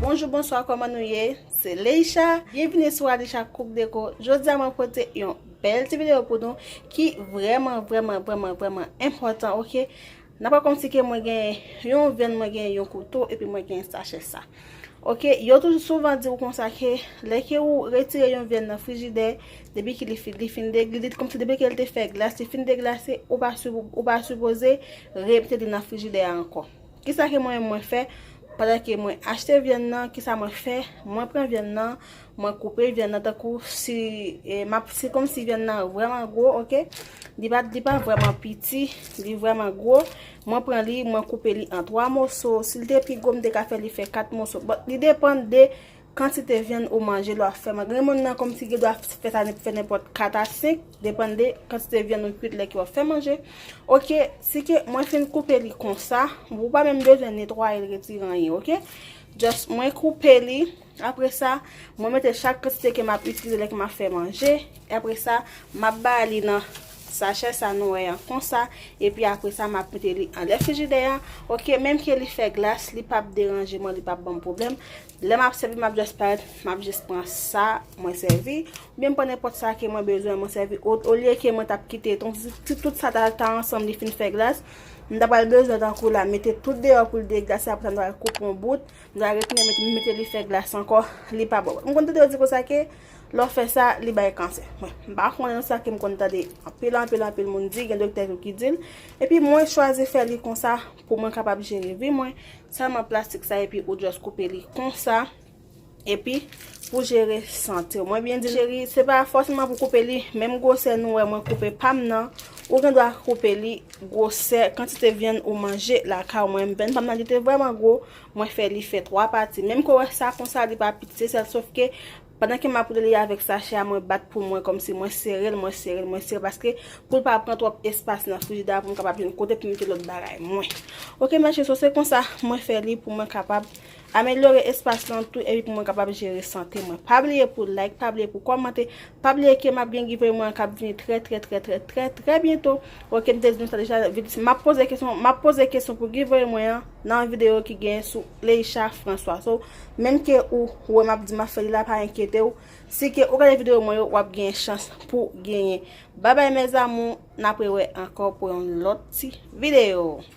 Bonjou bonswa kòman nou ye se Leisha Byenvini sou Alisha Cook Deco Jodi a mwen pote yon bèl ti videyo pou nou ki vrèman vrèman vrèman vrèman enpòtan ok Nan pa konsi ke mwen gen yon venn mwen gen yon kouto epi mwen gen sachè sa. Ok yo toujou souvan di ou konsa ke lè ke ou retire yon venn nan frijidè depi ki li li fin degli li konsi depi ke li te fè glas li fin deglase ou pa ou pa sipoze remete li nan frijidè a ankò. Kisa ke mwen menm mwen fè pandan ke mwen achte vyann nan kisa mwen fè mwen pran vyann nan Mwen koupe vyann nan tankou si map se komsi vyann nan vreman gwo ok li pa li pa vreman piti li vreman gwo mwen pran li mwen koupe li an 3 moso si li te pi gwo m te ka fè li fè 4 moso bon li depan de kantite vyann ou manje lwa fè manje gen moun nan komsi gen dwa fè sa fè nenpòt 4 a 5 depan de kantite vyann ou kwit lè ki wap fè manje ok si ke mwen fin koupe li konsa ou pa menm bezwen netwaye retire anyen ok just mwen koupe li. Apre sa, mwen mete chak kantite ke map itilize lè ke map fè manje. Apre sa, map bay li nan sachè sa nou wè an konsa. E pi apre sa, map mete li anlè frijidè an. Ok, menm ke li fè glas, li pap deranje mwen, li pap banm pwoblèm. Lè map sèvi, map just parèt, map just pran sa mwen sèvi. Ou byen m pran nenpòt sa ke mwen bezwen mwen sèvi. O lye ke mwen tap kite, ton si tout sa ta ta ansanm li fin fè glas, m ta pral bezwen tankou la mete tout deyò pou l deglase. Apre sa m ta pral koupe yon bout, Nan retounen mete mete li fè glas ankò li pa bon. M konn tande yo di konsa ke lè w fè sa li bay kansè. Bon, m pa konnen non sa ke m konn tande anpil anpil anpil moun di, gen doktè tou ki di l. Epi mwen chwazi fè li konsa pou mwen kapab jere vi mwen, sèlman plastik sa epi ou just koupe li konsa epi pou jere sante w. Mwen byen di cheri, se pa fòseman pou koupe li menm gwosè nou wè mwen koupe pa m nan, ou gen dwa koupe li Gwosè kantite vyann ou manje lakay ou Mwen vyann pam nan li te vrèman gwo Mwen fè li fè 3 pati menm ke w wè sa konsa li pa piti se sèl sof ke pandan ke map li avèk sachè a mwen bat pou mwen kòmsi mwen sere l mwen sere l mwen sere l paske pou l pa pran twòp espas nan frijidè a pou m kapab jwenn kote pou m mete lòt bagay mwen ok mèche so se konsa mwen fè li pou mwen kapab Amelyore espas lan tou epi pou mwen kapab jere sante mwen. Pa bliye pou like, pa bliye pou kòmante, pa bliye ke map gen giveaway mwen an kap vini trè trè trè trè trè trè byento. Ok m te di nou sa deja, map poze kesyon, map poze kesyon pou giveaway mwen an nan videyo ki gen sou Leisha François. So, menm ke ou wè map di map fè li la pa enkyete ou, si ke ou gade videyo mwen yo wap gen chans pou genyen. Babay mes amours, n ap rewè ankò pou yon lòt ti videyo.